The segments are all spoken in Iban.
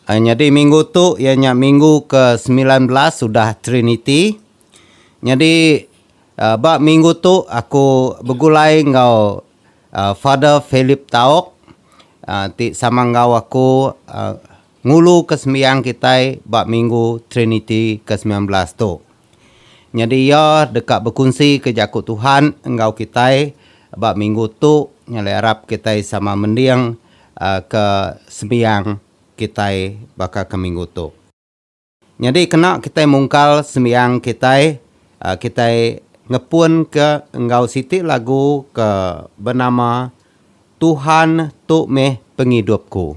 Nyadi minggu tu iya nya minggu ke semilan belas udah Triniti. Nyadi ba minggu tu aku begulai enggau Father Philip Taok ti sama enggau aku nguluka sembiang kitai ba minggu Triniti ke semilan belas tu. Nyadi iya deka bekunsika Jaku Tuhan enggau kitai ba minggu tu nyadi arap kitai sama mending ke sembiang kitai baka ke minggu tu. Nyadi kena kitai mungkal sembiang kitai, kitai ngepunka enggau siti lagu ke benama Tuhan tu meh pengidupku.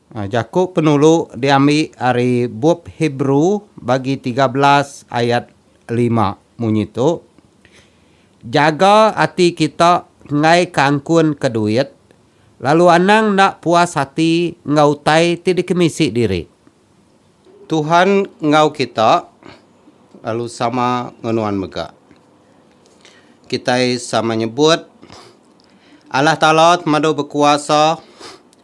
Jaku penulu diambi ari Bup Hebrew bagi tiga belas ayat lima munyi tu, Jaga ati kita enggai ke angkun ke duit, lalu anang enda puas ati enggau utai ti dikemisi diri. Tuhan enggau kita, lalu sama enggau nuan mega. Kitai sama nyebut, Allah Taala temadu bekuasa.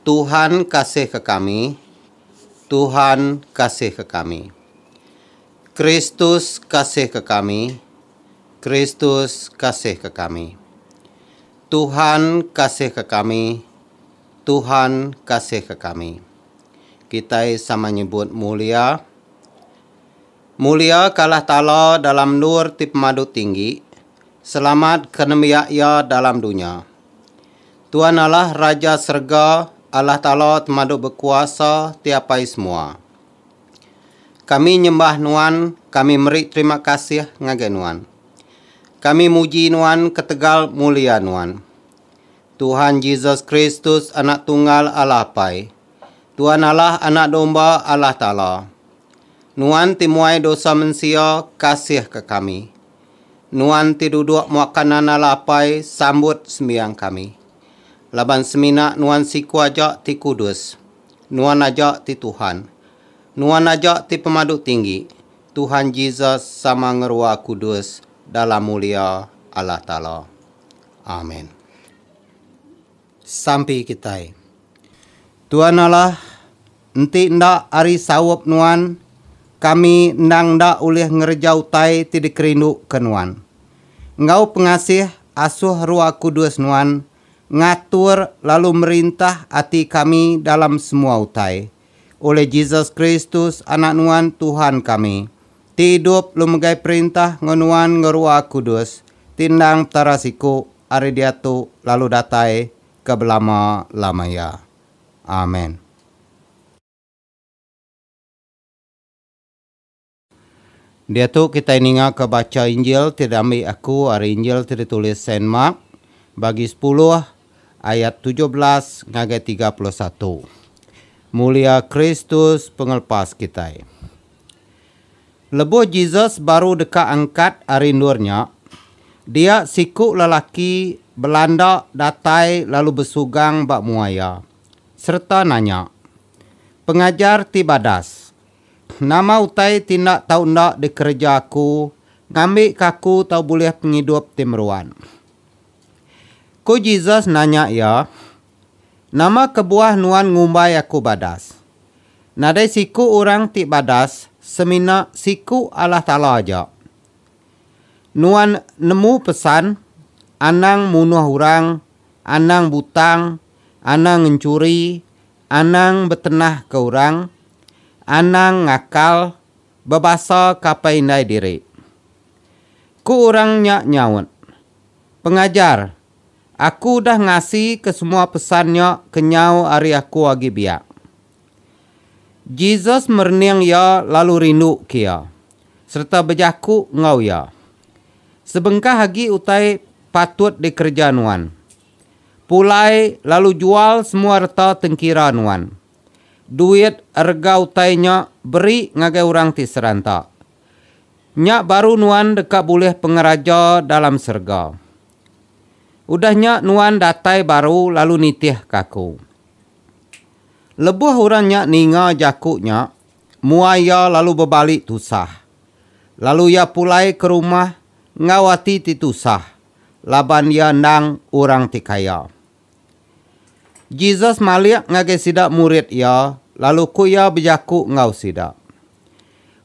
Tuhan kasihka kami, Tuhan kasihka kami. Kristus kasihka kami, Kristus kasihka kami. Tuhan kasihka kami, Tuhan kasihka kami. Kitai sama nyebut mulia. Mulia ka Allah Taala dalam endur ti pemadu tinggi, selamat ka nembiak Iya dalam dunya. Tuan Allah Raja serega, Allah Taala temadu bekuasa ti apai semua. Kami nyembah Nuan, kami meri terima kasih ngagai Nuan. Kami muji Nuan ketegal mulia Nuan. Tuhan Jesus Kristus Anak Tunggal Allah Apai. Tuan Allah Anak Domba Allah Taala, Nuan ti muai dosa mensia, kasihka kami. Nuan ti duduk muaka nan Allah Apai, sambut sembiang kami. Laban semina Nuan siku aja ti kudus. Nuan aja ti Tuhan. Nuan aja ti Pemadu Tinggi, Tuhan Jesus sama ngerua kudus dalam mulia Allah Taala. Amen. sampi kitai. Tuan Allah, enti enda ari saup Nuan, kami endang enda ulih ngereja utai ti dikerinduka Nuan. Enggau pengasih, asuh Ruah Kudus Nuan ngatur lalu merintah ati kami dalam semua utai. Oleh Jesus Kristus, Anak Nuan, Tuhan kami, ti idup lu megai perintah enggau Nuan enggau Ruah Kudus, ti endang Petara siku, ari diatu lalu datai ke belama-lama iya. Amen. Diatu kitai ningaka bacha Injil ti diambi aku ari Injil ti ditulis Saint Mark, bagi sepuluh, ayat tujuh belas ngagai tiga puluh satu. Mulia Kristus Pengelepas kitai. Lebuh Jesus baru deka angkat ari endur nya, dia siku lelaki Belanda datai lalu besugang ba mua iya, sereta nanya, Pengajar ti badas, nama utai ti enda tau enda dikereja aku ngambika aku tau bulih pengidup ti meruan? Ku Jesus nanya iya, Nama kebuah nuan ngumbai aku badas? Nadai siku orang ti badas semina Siku Allah Taala aja. Nuan nemu pesan, Anang munuh orang, anang butang, anang ngencuri, anang betenahka orang, anang ngakal, bebasa kapai indai diri. Ku orang nya nyaut, Pengajar, Aku udah ngasi ke semua pesan nya kenyau ari aku agi biak. Jesus merening iya lalu rindu ke iya, sereta bejaku enggau iya, Sebengkah agi utai patut dikereja nuan. Pulai lalu jual semua reta tengkira nuan. Duit rega utai nya beri ngagai orang ti seranta. Nya baru nuan deka bulih pengeraja dalam serega. Udah nya nuan datai baru lalu nitihka aku. Lebuh orang nya ninga jaku nya, muai iya lalu bebali tusah. Lalu iya pulai ke rumah enggau ati ti tusah laban iya endang orang ti kaya. Jesus malik ngagai sida murid iya lalu ku iya bejaku enggau sida,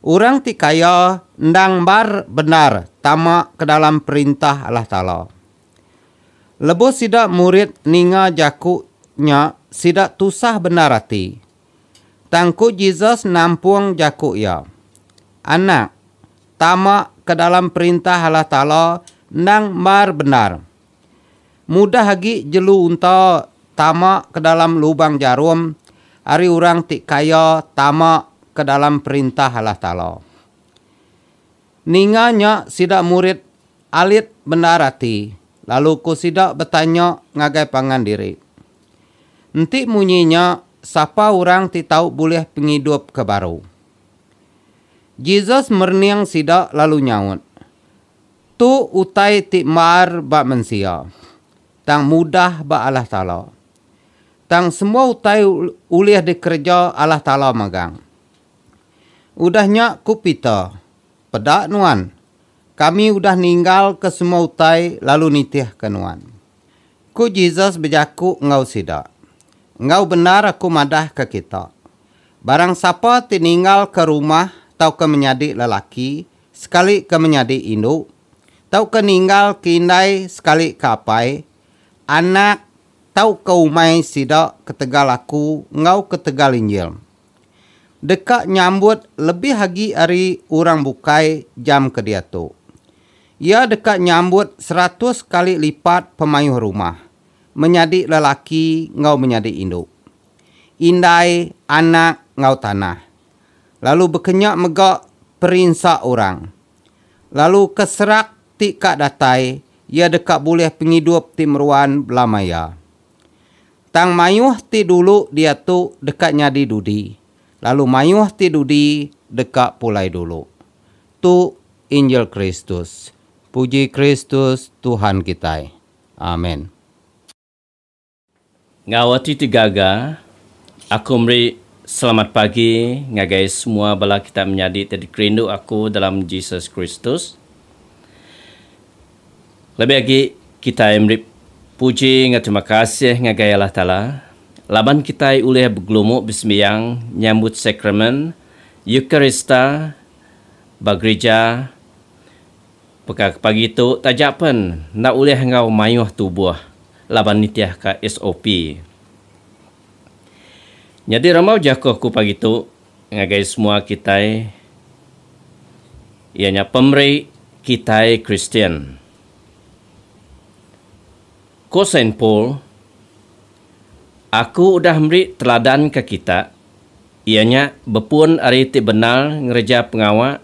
Orang ti kaya endang mbar bendar tama ke dalam Perintah Allah Taala. Lebuh sida murid ninga jaku nya sida tusah bendar ati. Tang ku Jesus nampung jaku iya, Anak, tama ke dalam Perintah Allah Taala endang mbar bendar. Mudah agi jelu unta tama ke dalam lubang jarum ari orang ti kaya tama ke dalam Perintah Allah Taala. Ninga nya sida murid alit bendar ati lalu ku sida betanya ngagai pangan diri, Enti munyi nya, sapa orang ti tau bulih pengidup ke baru? Jesus merening sida lalu nyaut, Tu utai ti mar ba mensia, tang mudah ba Allah Taala. Tang semua utai ulih dikereja Allah Taala magang. Udah nya ku Peter, Peda nuan, kami udah ninggalka semua utai lalu nitihka nuan. Ku Jesus bejaku enggau sida, Enggau bendar aku madahka kita, barang sapa ti ninggalka rumah tauka menyadi lelaki, sekalika menyadi indu tauka ninggalka indai sekalika apai, anak tauka umai sida ketegal aku enggau ketegal Injil. Deka nyambut lebih agi ari orang bukai jam ke diatu. Iya deka nyambut seratus kali lipat pemayuh rumah, menyadi lelaki enggau menyadi indu, indai, anak, enggau tanah. lalu bekenya mega perinsa orang. Lalu ke serak ti ka datai iya deka bulih pengidup ti meruan belama iya. Tang mayuh ti dulu diatu deka nyadi dudi, lalu mayuh ti dudi deka pulai dulu. Tu Injil Kristus. Puji Kristus Tuhan kitai. Amen. Enggau ati ti gaga, aku meri selamat pagi ngagai semua bala kitai menyadi ti dikerindu aku dalam Jesus Kristus. Lebih agi, kitai meri puji enggau terima kasih ngagai Allah Taala laban kitai ulih begelumu besembiang nyambut Sakramen Eucharista ba gerija Peka ke pagi tu taja pen enda ulih enggau mayuh tubuh laban nitih ka SOP. Nyadi rambau jakuh ku pagi tu ngagai semua kitai iya nya pemeri kitai Kristian. Ku Saint Paul, Aku udah meri teladan ke kita iya nya bepun ari ti bendar ngereja pengawa,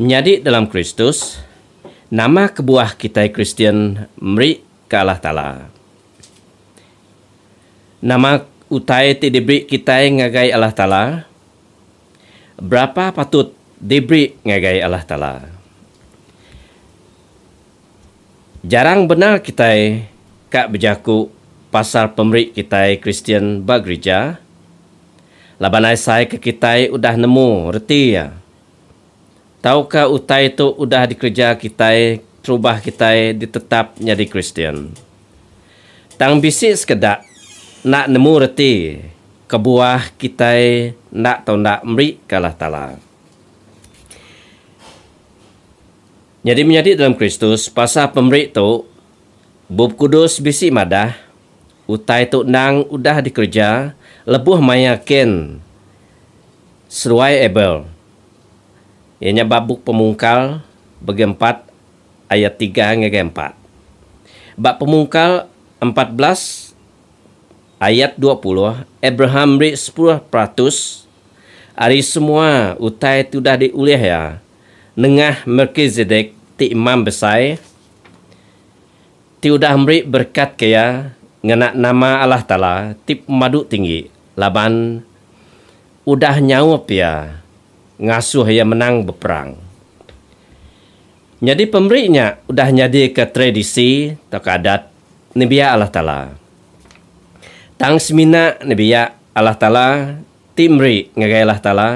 Menyadi dalam Kristus, Nama kebuah kitai Kristian meri ke Allah Taala? Nama utai ti diberi kitai ngagai Allah Taala? Berapa patut diberi ngagai Allah Taala? Jarang bendar kitai ka bejaku pasal pemeri kitai Kristian ba gerija, laban asai ke kitai udah nemu reti iya. Tauka utai tu udah dikereja kitai terubah kitai ditetap nyadi Kristian. Tang bisi sekeda enda nemu reti kebuah kitai enda tau enda meri ke Allah Taala. Nyadi menyadi dalam Kristus, pasal pemeri tu, Bup Kudus bisi madah, utai tu endang udah dikereja lebuh maya Kain seruai Abel, iya nya ba Bup Pemungkal bagi empat ayat tiga ngagai empat. Ba Pemungkal empat belas ayat dua puluh, Abraham meri sepuluh peratus ari semua utai ti udah diulih iya Nengah Melkizedek ti Imam Besai ti udah meri berekat ke iya ngena nama Allah Taala ti pemadu tinggi laban udah nyaup iya ngasuh iya menang beperang. Nyadi pemeri nya udah nyadika tradisi tauka adat nembiak Allah Taala. Tang semina nembiak Allah Taala ti meri ngagai Allah Taala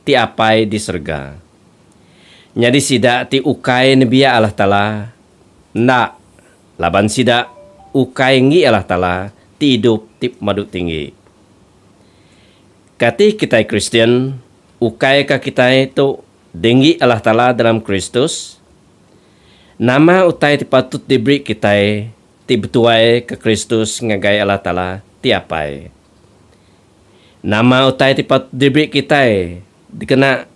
ti apai di serega. Nyadi sida ti ukai nebiak Allah Taala? Enda, laban sida ukai enggi Allah Taala ti idup ti pemadu tinggi. Kati kitai Kristian ukai ka kitai tu dienggi Allah Taala dalam Kristus? Nama utai ti patut diberi kitai ti betuai ka Kristus ngagai Allah Taala ti apai? Nama utai ti patut dibi kitai dikena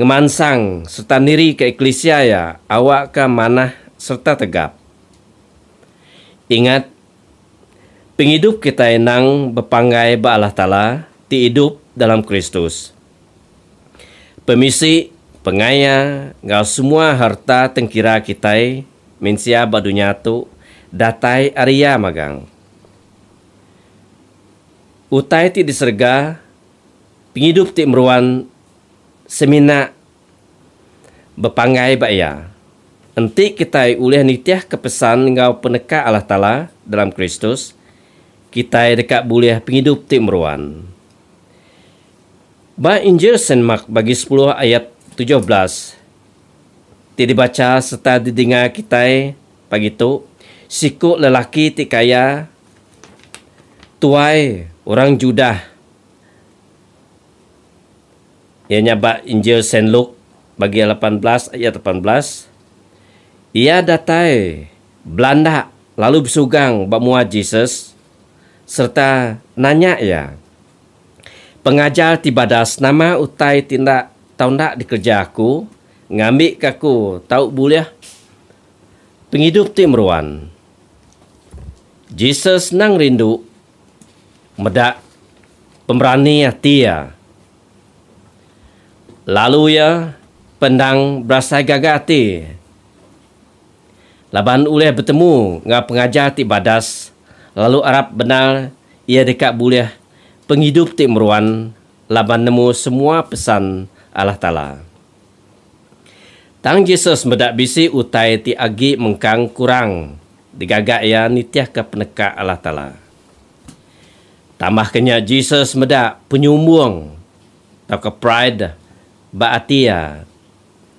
ngemansang sereta nirika eklisia iya awakka manah sereta tegap? Ingat, pengidup kitai endang bepanggai ba Allah Taala ti idup dalam Kristus. Pemisi, pengaya, enggau semua harta tengkira kitai mensia ba dunya tu datai ari Iya magang. Utai ti diserega, pengidup ti meruan semina bepanggai ba iya. Enti kitai ulih nitihka pesan enggau peneka Allah Taala dalam Kristus, kitai deka bulih pengidup ti meruan. Ba Injil Saint Mark bagi sepuluh ayat tujuh belas ti dibacha sereta didengar kitai pagi tu, siku lelaki ti kaya Tuai orang Judah iya nya ba Injil Saint Luke bagi lapan belas ayat lapan belas, iya datai belanda lalu besugang ba mua Jesus sereta nanya iya, Pengajar ti badas, nama utai ti enda tau enda dikereja aku ngambika aku tau bulih? Pengidup ti meruan. Jesus senang rindu meda pemerani ati iya. Lalu iya peendang berasai gaga ati laban ulih betemu enggau pengajar ti badas lalu arap bendar iya deka bulih pengidup ti meruan laban nemu semua pesan Allah Taala. Tang Jesus meda bisi utai ti agi mengkang kurang digaga iya nitihka peneka Allah Taala. Tambahka nya Jesus meda penyumbung tauka pride ba ati iya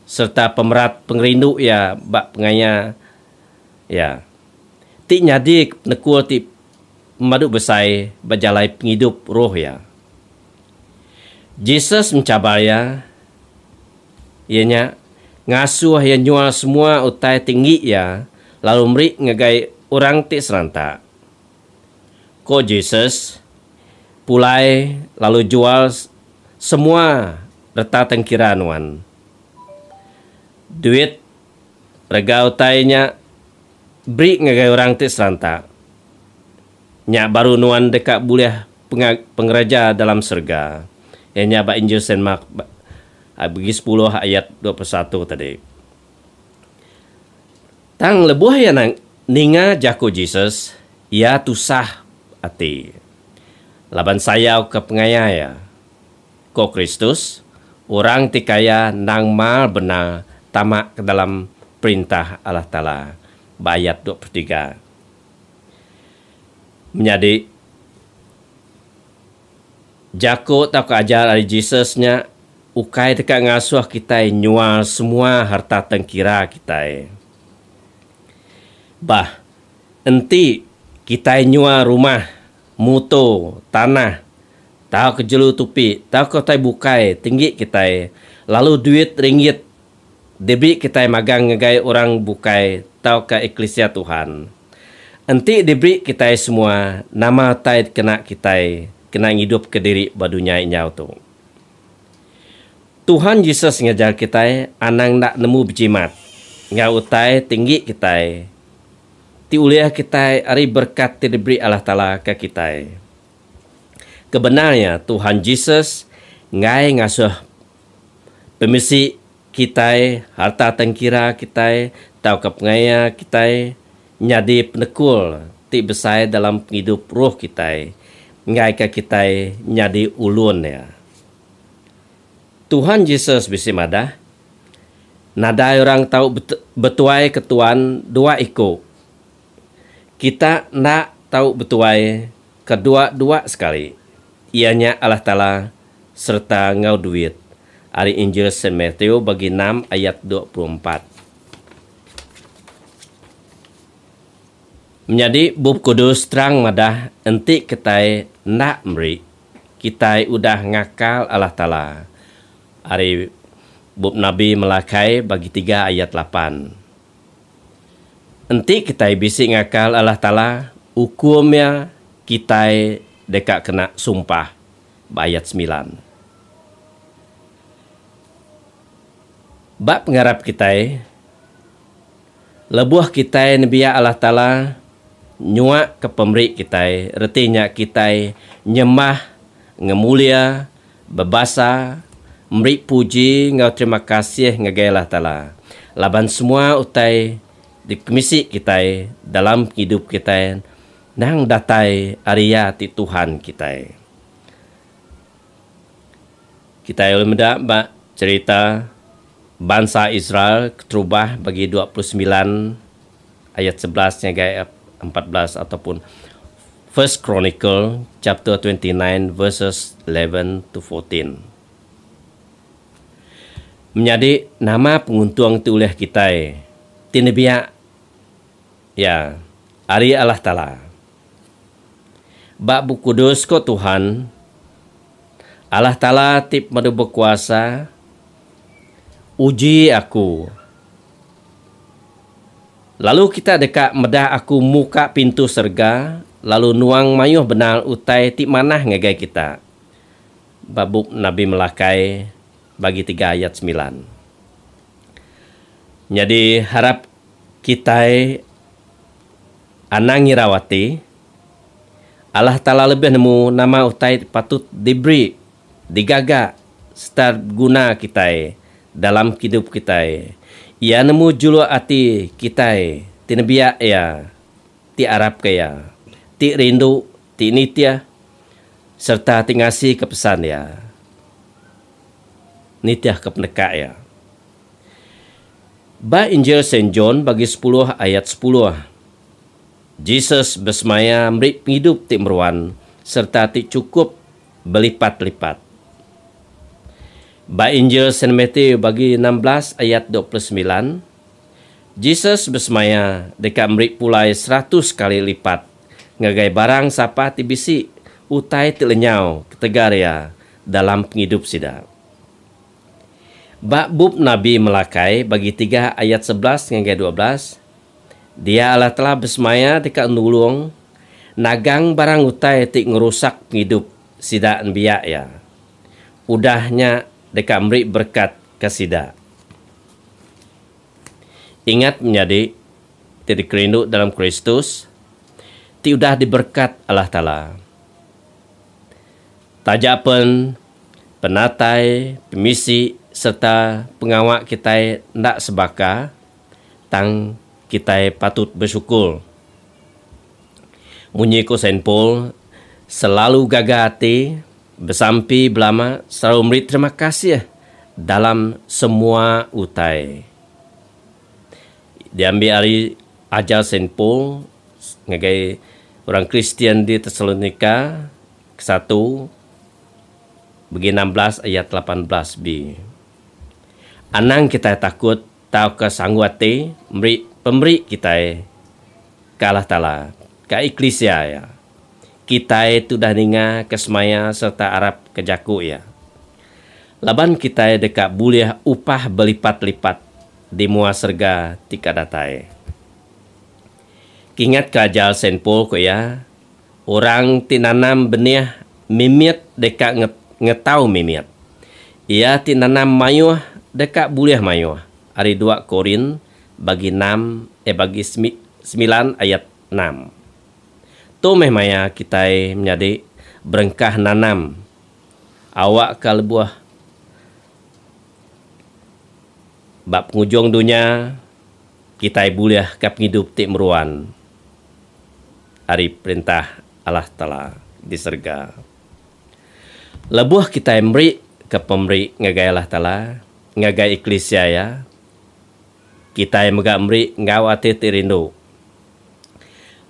sereta pemerat pengerindu iya ba pengaya iya ti nyadika penekul ti pemadu besai ba jalai pengidup roh iya. Jesus mencabar iya, iya nya ngasuh iya nyual semua utai ti enggi iya lalu meri ngagai orang ti seranta. Ko Jesus, Pulai lalu jual semua reta tengkira nuan. Duit rega utai nya beri ngagai orang ti seranta. Nya baru nuan deka bulih pengag pengereja dalam serega. Iya nya ba Injil Saint Mark bagi sepuluh ayat dua puluh satu tadi. Tang lebuh iya ninga jaku Jesus, iya tusah ati laban sayau ke pengaya iya. Ko Kristus, orang ti kaya endang mar bendar tama ke dalam Perintah Allah Taala, ba ayat dua puluh tiga. Menyadi jaku tauka ajar ari Jesus nya ukai deka ngasuh kitai nyual semua harta tengkira kitai. Bah, enti kitai nyual rumah, muto, tanah, tauka jelu tupi tauka utai bukai tinggi kitai, lalu duit ringgit, Dibi kitai magang ngagai orang bukai tauka eklisia Tuhan? Enti dibi kitai semua, nama utai dikena kitai kena ngidupka diri ba dunya inyau tu? Tuhan Jesus ngajar kitai anang enda nemu bejimat enggau utai ti enggi kitai ti ulih kitai ari berekat ti diberi Allah Taala ka kitai. Kebendar iya, Tuhan Jesus enggai ngasuh. pemisi kitai, harta tang kira kitai tauka pengaya kitai nyadi penekul ti besai dalam pengidup roh kitai enggaika kitai nyadi ulun Iya. Tuhan Jesus bisi madah, Nadai orang tau betuai ketuan dua iku. Kita enda tau betuai kedua-dua sekali, iya nya Allah Taala sereta enggau duit, ari Injil Saint Matthew bagi enam ayat dua puluh empat. Menyadi Bup Kudus terang madah enti kitai enda meri, kitai udah ngakal Allah Taala, ari Bup Nabi Malakai bagi tiga ayat lapan. Enti kitai bisi ngakal Allah Taala, ukum iya kitai deka kena sumpah. Ba ayat semilan. Ba pengarap kitai, lebuh kitai nembiak Allah Taala nyuaka pemeri kitai, reti nya kitai nyembah, ngemulia, bebasa, meri puji enggau terima kasih ngagai Allah Taala laban semua utai dikemisi kitai dalam pengidup kitai. Endang datai ari Iya ti Tuhan kitai. Kitai ulih meda ba cherita bansa Israel keterubah bagi dua puluh semilan ayat sebelas ngagai empat belas ataupun First Chronicle chapter twenty nine verses eleven to fourteen. Menyadi nama penguntung ti ulih kitai ti nebiak? Ya, ari Allah Taala. Ba Bup Kudus ko Tuhan, Allah Taala ti Pemadu Bekuasa, Uji aku, lalu kita deka medah aku muka pintu serega lalu nuang mayuh bendar utai ti manah ngagai kita. Ba Bup Nabi Melakai bagi tiga ayat semilan. Nyadi harap Kitai anang ngirau ati, Allah Taala lebih nemu nama utai ti patut diberi, digaga sereta beguna kitai dalam kidup kitai. Iya nemu juluk ati kitai ti nebiak Iya, ti arapka Iya, ti rindu, ti nitih sereta ti ngasika pesan Iya, nitihka peneka Iya. Ba Injil Saint John bagi sepuluh ayat sepuluh, Jesus besemaya meri pengidup ti meruan sereta ti chukup belipat-lipat. Ba Injil Saint Matthew bagi enam belas ayat dua puluh semilan, Jesus besemaya deka meri pulai seratus kali lipat ngagai barang sapa ti bisi utai ti lenyau ketegal iya dalam pengidup sida. Ba bup nabi Malakai bagi tiga ayat sebelas ngagai dua belas, Dia Allah telah besemaya deka nulung nagang barang utai ti ngerusak pengidup sida nembiak Iya. Udah nya deka meri berekat ke sida. Ingat menyadi ti dikerindu dalam Kristus ti udah diberekat Allah Taala. Taja pen. penatai, pemisi sereta pengawa kitai enda sebaka, tang kitai patut besyukur. Munyi ku Saint Paul, selalu gaga ati, besampi belama serau meri terima kasih dalam semua utai. Diambi ari ajar Saint Paul ngagai orang Kristian di Tesalonika. Kesatu, begi enam belas ayat lapan belas bi, Anang kitai takut tauka sanggu ati meri pemeri kitai ke Allah Taala, ka eklisia Iya. Kitai tudah ninga ke semaya sereta arap ke jaku Iya. Laban kitai deka bulih upah belipat-lipat di mua serega ti ka datai. Kingatka ajar Saint Paul ku iya, Orang ti nanam benih mimit deka ngetau mimit. Iya ti nanam mayuh deka bulih mayuh, ari dua Korin bagi enam eh bagi semilan ayat enam. Tu meh maya kitai menyadi berengkah nanam awakka lebuh ba pengujung dunya kitai bulihka pengidup ti meruan. ari Perintah Allah Taala di serega. Lebuh kitai merika pemeri ngagai Allah Taala, ngagai eklisia Iya, kitai mega meri enggau ati ti rindu.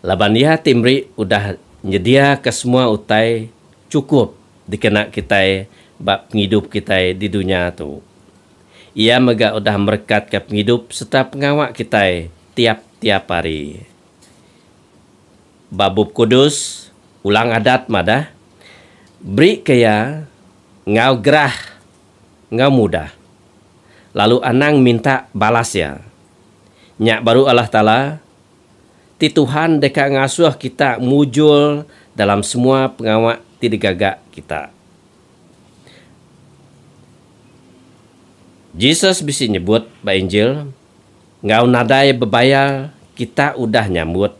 Laban Iya ti meri udah nyediaka semua utai chukup dikena kitai ba pengidup kitai di dunya tu. Iya mega udah merekatka pengidup sereta pengawa kitai tiap-tiap hari. Ba Bup Kudus, Ulang Adat madah, Berika iya enggau gerah enggau mudah, lalu anang minta balas iya. Nya baru Allah Taala ti Tuhan deka ngasuh kita mujur dalam semua pengawa ti digaga kita. Jesus bisi nyebut ba Injil. Enggau nadai bebayar kita udah nyambut,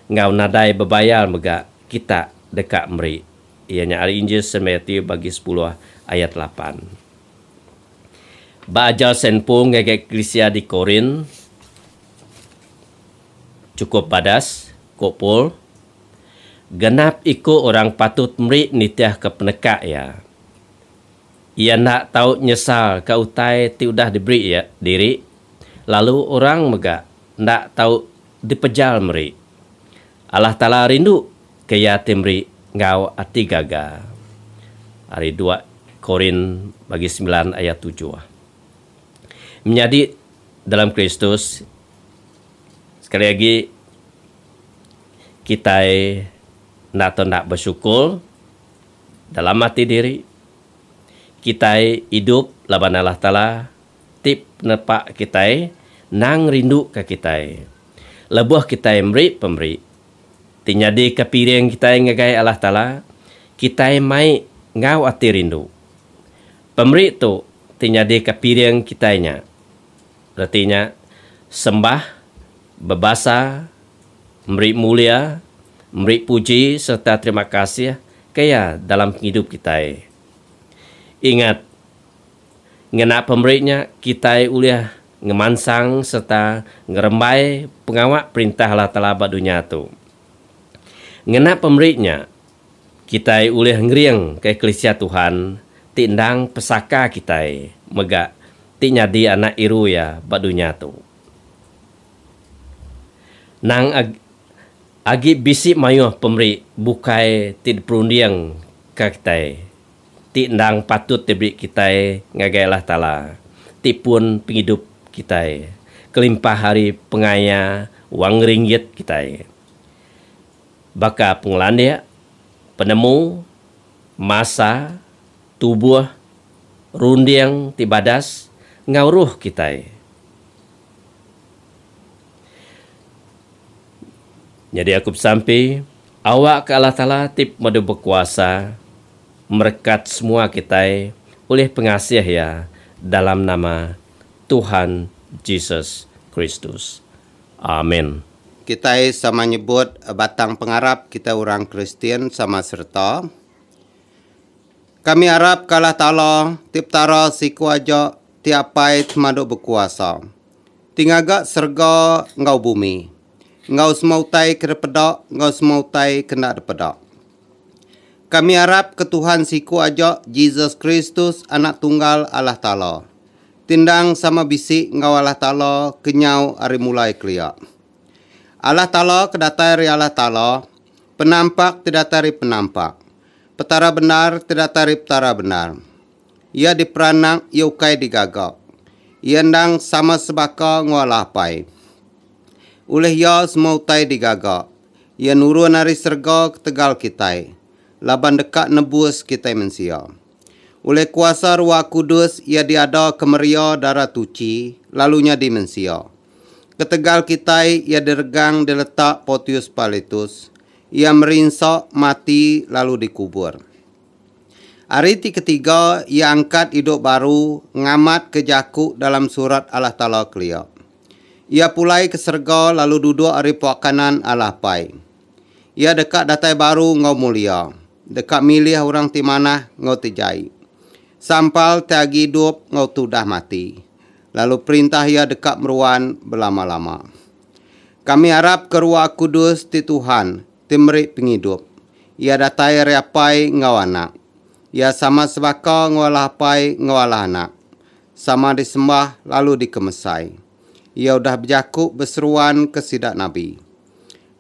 enggau nadai bebayar mega kita deka meri. Iya nya ari Injil Saint Matthew bagi sepuluh ayat lapan. Ba ajar Saint Paul ngagai eklisia di Korint, Chukup badas, ku Paul, genap iku orang patut meri nitihka peneka iya. Iya enda tau nyesalka utai ti udah diberi iya diri, lalu orang mega enda tau dipejal meri. Allah Taala rinduka iya ti meri enggau ati gaga. Ari dua Korin bagi semilan ayat tujuh. Menyadi dalam Kristus, sekali agi kitai enda tau enda besyukur. Dalam ati diri, kitai idup laban Allah Taala ti penepa kitai endang ngerinduka kitai. Lebuh kitai meri pemeri ti nyadika piring kitai ngagai Allah Taala, kitai mai enggau ati rindu. Pemeri tu ti nyadika piring kitai nya. Reti nya, sembah, bebasa, meri mulia, meri puji sereta terima kasih ke Iya dalam pengidup kitai. Ingat, ngena pemeri nya kitai ulih ngemansang sereta ngerembai pengawa Perintah Allah Taala ba dunya tu. Ngena pemeri nya, Kitai ulih ngering kekelisia Tuhan ti endang pesaka kitai mega ti nyadi anak iru iya ba dunya tu. Nang agi agi bisi mayuh pemeri bukai ti diperunding ka kitai ti endang patut diberi kitai ngagai Allah Taala ti pun pengidup kitai kelimpah ari pengaya wang ringgit kitai. Baka pengelandik, penemu, masa, tubuh, runding ti badas enggau ruh kitai. Nyadi aku besampi, awakka Allah Taala ti Pemadu Bekuasa merekat semua kitai ulih pengasih Iya dalam nama Tuhan Jesus Kristus. Amen. Kitai sama nyebut batang pengarap kitai orang Kristian sama sereta. Kami arap ke Allah Taala, ti Petara siku aja, ti Apai Semadu Bekuasa, ti ngaga serega enggau bumi, enggau semua utai ke dipeda enggau semua utai ke enda dipeda. Kami arap ke Tuhan siku aja, Jesus Kristus, Anak Tunggal Allah Taala, ti endang sama bisi enggau Allah Taala ke nyau ari mulai kelia. Allah Taala ke datai ari Allah Taala, penampak ti datai ari penampak, Petara bendar ti datai ari Petara bendar. Iya diperanak, iya ukai digaga. Iya endang sama sebaka enggau Allah Apai. Ulih iya semua utai digaga. Iya nurun ari serega ketegal kitai, laban deka nebus kitai mensia. Ulih kuasa Ruah Kudus iya diada kemeria dara tuchi lalu nyadi mensia. Ketegal kitai iya diregang diletak Portius Pilatus, iya merinsa, mati lalu dikubur. Ari ti ketiga iya angkat idup baru ngamat ke jaku dalam surat Allah Taala kelia. Iya pulai ke serega lalu duduk ari pua kanan Allah Apai. Iya deka datai baru enggau mulia. Deka milih orang ti manah enggau ti jai. Sampal ti agi idup enggau ti udah mati, lalu perintah iya deka meruan belama-lama. Kami arap ke Ruah Kudus ti Tuhan ti meri pengidup iya datai ari Apai enggau Anak. Iya sama sebaka enggau Allah Apai enggau Allah Anak, sama disembah lalu dikemesai. Iya udah bejaku beseruan ke sida nabi.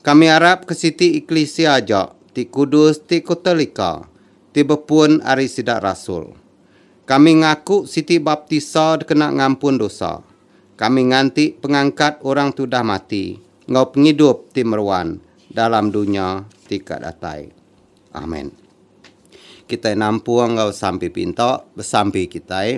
Kami arap ke siti eklisia aja ti kudus ti Kotolika ti bepun ari sida rasul. Kami ngaku siti baptisa dikena ngampun dosa. Kami nganti pengangkat orang ti udah mati enggau pengidup ti meruan dalam dunya ti ka datai. Amen. Kitai nampung enggau sampi pinta besampi kitai.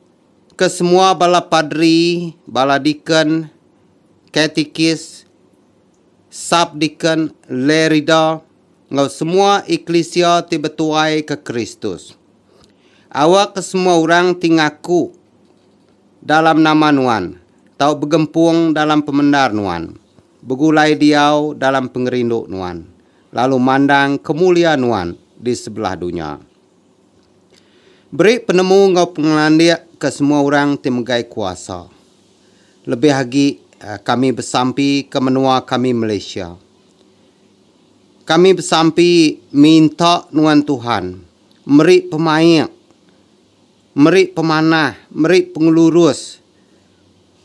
ke semua bala padri, bala deacon, katikis, sub-deacon, lay reader, enggau semua eklisia ti betuai ke Kristus. Awak ke semua orang ti ngaku dalam nama nuan tau begempung dalam pemendar nuan, begulai diau dalam pengerindu nuan, lalu mandang kemulia nuan di sebelah dunya. Beri penemu enggau pengelandik ke semua orang ti megai kuasa. Lebih agi kami besampi ke menua kami Malaysia. Kami besampi minta nuan Tuhan meri pemaik, meri pemanah, meri pengelurus,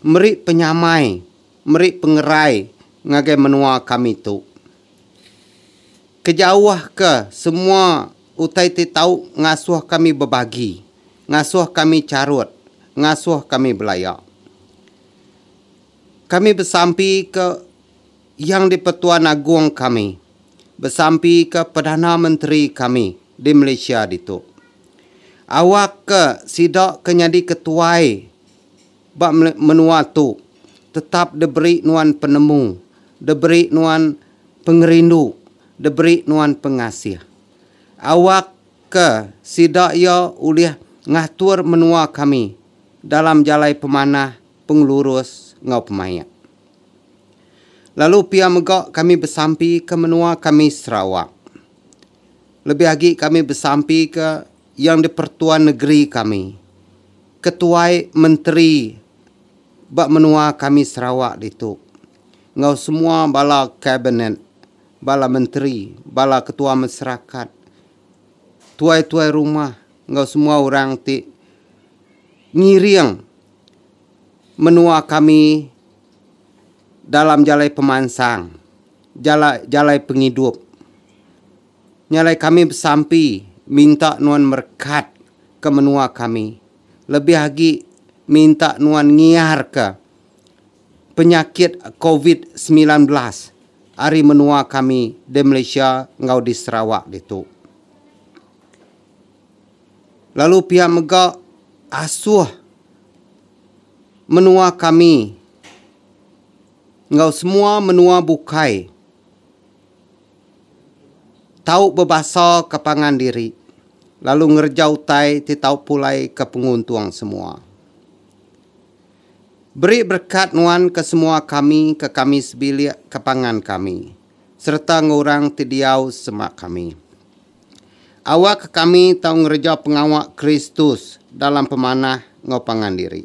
meri penyamai, meri pengerai ngagai menua kami tu. Kejauhka semua. Utai ti tau ngasuh kami bebagi, ngasuh kami charut, ngasuh kami belaya. Kami besampika Yang di-Pertuan Agong kami, besampika Perdana Menteri kami di Malaysia ditu. Awakka sida ke nyadi ketuai. Ba menua tu, tetap diberi nuan penemu, diberi nuan pengerindu, diberi nuan pengasih. Awak ke sida iya ulih ngatur menua kami dalam jalai pemanah, pengelurus enggau pemaik. Lalu pia mega kami besampika menua kami Sarawak. Lebih agi kami besampika. Yang di-Pertuan Negeri kami, Ketuai Menteri ba menua kami Sarawak ditu enggau semua bala Kabinet, bala Menteri, bala Ketua Masyarakat, Tuai-Tuai Rumah enggau semua orang ti ngiring menua kami dalam jalai pemansang, jalai jalai pengidup. Nya alai kami besampi minta nuan merekat ke menua kami lebih agi minta nuan ngiar ke penyakit covid semilan belas ari menua kami di Malaysia enggau di Sarawak ditu. Lalu pia mega asuh menua kami enggau semua menua bukai. tau bebasaka pangan diri lalu ngereja utai ti tau pulaika penguntung semua. Beri berekat nuan ke semua kami ke kami sebilik ke pangan kami sereta enggau orang ti diau sema kami. Awakka kami tau ngereja pengawa Kristus dalam pemanah enggau pangan diri,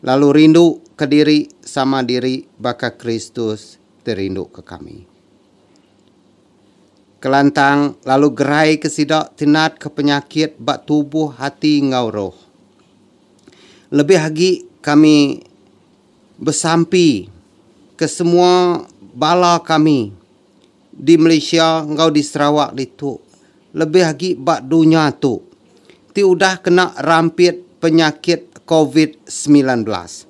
lalu rinduka diri sama diri baka Kristus ti rinduka kami. Kelantang lalu geraika sida ti natka penyakit ba tubuh, ati enggau roh. Lebih agi kami besampi ke semua bala kami di Malaysia enggau di Sarawak ditu lebih agi ba dunya tu ti udah kena rampit penyakit covid semilan belas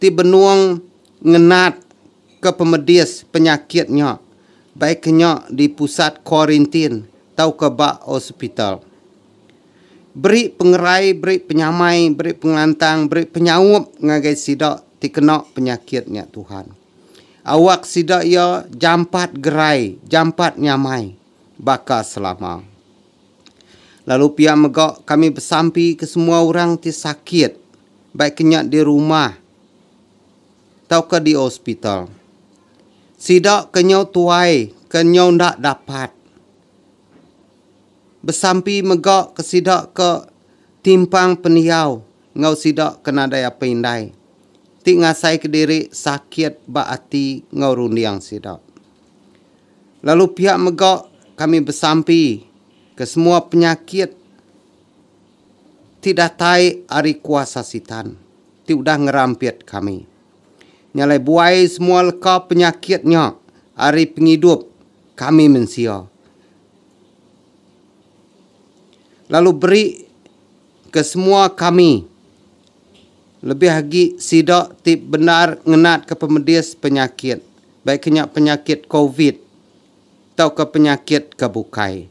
ti benung ngenat ke pemedis penyakit nya baik nya di pusat kuarintin tauka ba hospital. Beri pengerai, beri penyamai, beri pengelantang, beri penyaup ngagai sida ti kena penyakit nya Tuhan. Awak sida iya jampat gerai, jampat nyamai baka selama. Lalu pia mega kami besampi ke semua orang ti sakit baik nya di rumah tauka di hospital. Sida ke nyau tuai ke nyau enda dapat besampi mega ke sida ke timpang pendiau enggau sida ke nadai apai indai ti ngasai ke diri sakit ba ati enggau runding sida. Lalu pia mega kami besampi ke semua penyakit. Ti datai ari kuasa Sitan ti udah ngerampit kami. Nya alai buai semua leka penyakit nya ari pengidup kami mensia lalu beri ke semua kami lebih agi sida ti bendar ngenatka pemedis penyakit baik ke nya penyakit covid tauka penyakit ke bukai.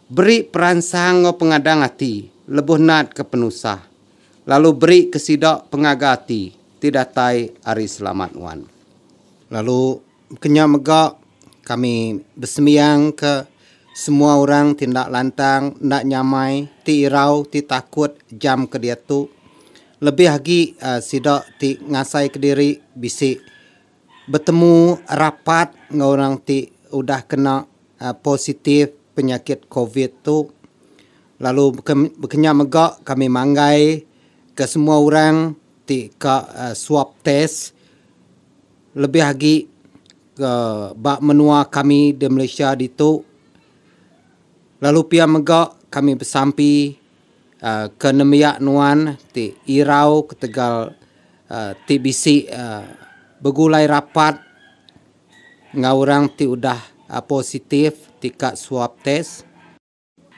Beri peransang enggau pengadang ati lebuh natka penusah, lalu berika sida pengaga ati ti datai ari Selamat Wan. Lalu kenya mega kami besembiangka semua orang ti enda lantang, enda nyamai, ti irau, ti takut jam ke diatu, lebih agi sida ti ngasaika diri bisi Betemu rapat enggau orang ti udah kena positif penyakit covid tu lalu bekenya mega kami manggai ke semua orang ti ka swab test lebih agi ba menua kami di Malaysia ditu lalu pia mega kami besampi. ke nembiak nuan ti irau ketegal ti bisi begulai rapat enggau orang ti udah positif ti ka swab test.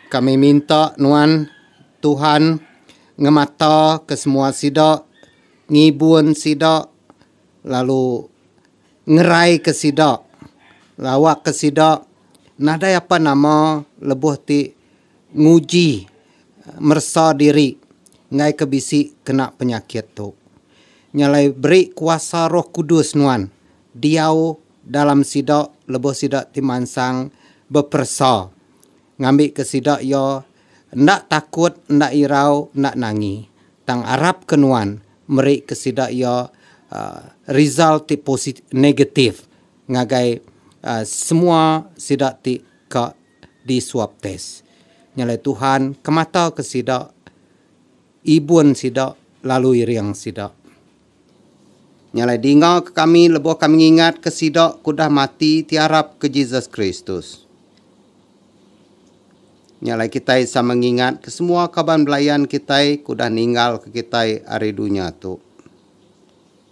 Kami minta nuan Tuhan ngemata ke semua sida, ngibun sida lalu ngerai ke sida lawa ke sida nadai apa nama lebuh ti. nguji meresa diri enggai ke bisi kena penyakit tu. Nya alai beri kuasa Roh Kudus nuan diau dalam sida lebuh sida ti mansang beperesa ngambika sida iya enda takut enda irau enda nangi tang arapka nuan merika sida iya aaa result ti posi negatif ngagai aaa semua sida ti ka di swab test. Nyalai Tuhan ke mata ke sida, ibun sida lalu iring sida. Nyalai dinga ke kami lebuh kami ngingat ke sida ke udah mati ti arap ke Jesus Kristus. Nyalai kitai sama ngingat ke semua kaban belayan kitai ke udah ninggal ke kitai ari dunya tu.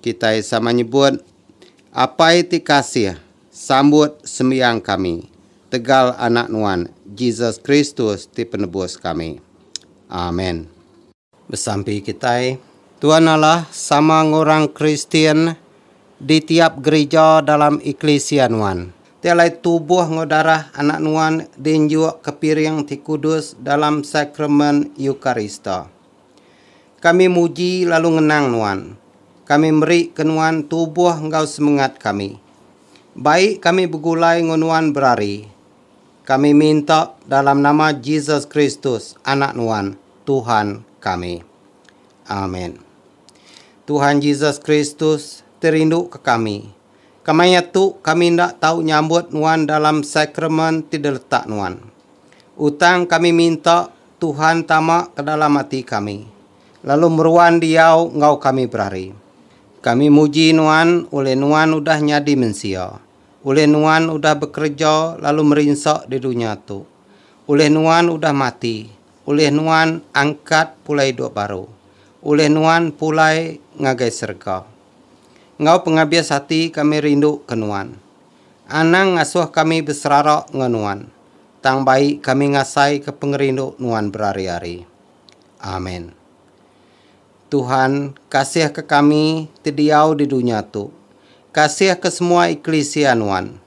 Kitai sama nyebut, Apai ti kasih, sambut sembiang kami, tegal Anak Nuan, Jesus Kristus ti Penebus kami. Amen. Besampi kitai, Tuan Allah sama enggau orang Kristian di tiap gerija dalam eklisia Nuan. Ti alai tubuh enggau darah Anak Nuan di enjukka piring ti kudus dalam Sakramen Eukarista. Kami muji lalu ngenang Nuan. Kami meri ke Nuan tubuh enggau semengat kami. Baik kami begulai enggau Nuan berari. Kami minta dalam nama Jesus Kristus, Anak Nuan, Tuhan kami. Amen. Tuhan Jesus Kristus ti rindu ke kami. Kemaya tu kami enda tau nyambut Nuan dalam sakramen ti diletak Nuan. Utang kami minta Tuhan tama ke dalam ati kami, lalu meruan diau enggau kami berari. Kami muji Nuan ulih Nuan udah nyadi mensia, ulih Nuan udah bekereja lalu merinsa di dunya tu, ulih Nuan udah mati, ulih Nuan angkat pulai idup baru, ulih Nuan pulai ngagai serega. Enggau pengabis ati kami rinduka Nuan. Anang ngasuh kami beserara enggau Nuan. Tang bai kami ngasaika pengerindu nuan berari-ari. Amen. Tuhan, kasihka kami ti diau di dunya tu. Kasihka semua eklisia nuan.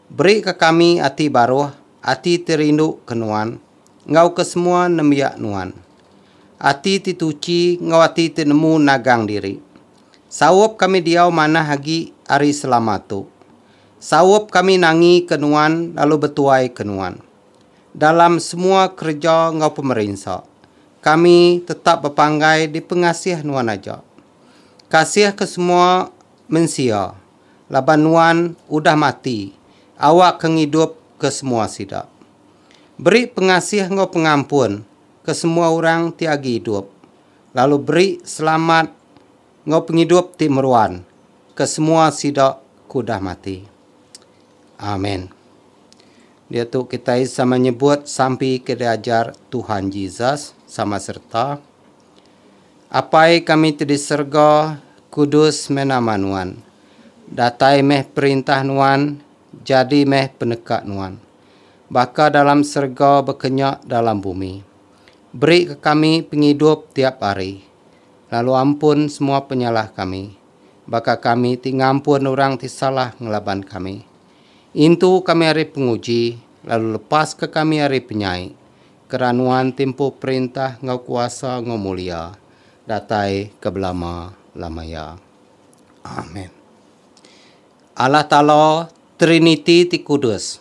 Berika kami ati baruh, ati ti rinduka nuan, enggau ke semua nembiak nuan. Ati ti tuchi enggau ati ti nemu nagang diri. Saup kami diau manah agi ari selama tu. Saup kami nangi ke nuan lalu betuai ke nuan dalam semua kereja enggau pemerinsa. Kami tetap bepanggai dipengasih nuan aja. Kasih ke semua mensia laban nuan udah mati awak ke ngidup ke semua sida. Beri pengasih enggau pengampun ke semua orang ti agi idup lalu beri selamat Enggau pengidup ti meruan ke semua sida ke udah mati. Amen. Diatu kitai sama nyebut sampi ke diajar Tuhan Jesus sama sereta, Apai kami ti di serega, kudus meh nama Nuan. Datai meh perintah Nuan, jadi meh peneka Nuan. Baka dalam serega baka nya dalam bumi. Beri ke kami pengidup tiap hari. Lalu ampun semua penyalah kami, baka kami ti ngampun orang ti salah ngelaban kami. Intu kami ari penguji, lalu lepaska kami ari penyai, kera Nuan ti empu perintah enggau kuasa enggau mulia, datai ke belama-lamaya. Amen. Allah Taala, Triniti ti kudus,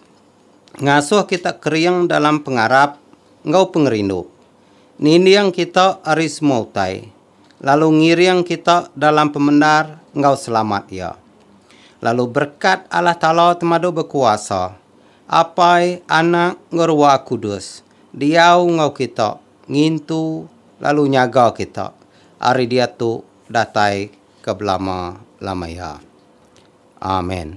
ngasuh kita kering dalam pengarap enggau pengerindu. Ninding kita ari semua utai, lalu ngiring kita dalam pemendar enggau selamat Iya. Lalu berekat Allah Taala Temadu Bekuasa, Apai, Anak, enggau Ruah Kudus, diau enggau kita, ngintu, lalu nyaga kita ari diatu datai ke belama-lama iya. Amen.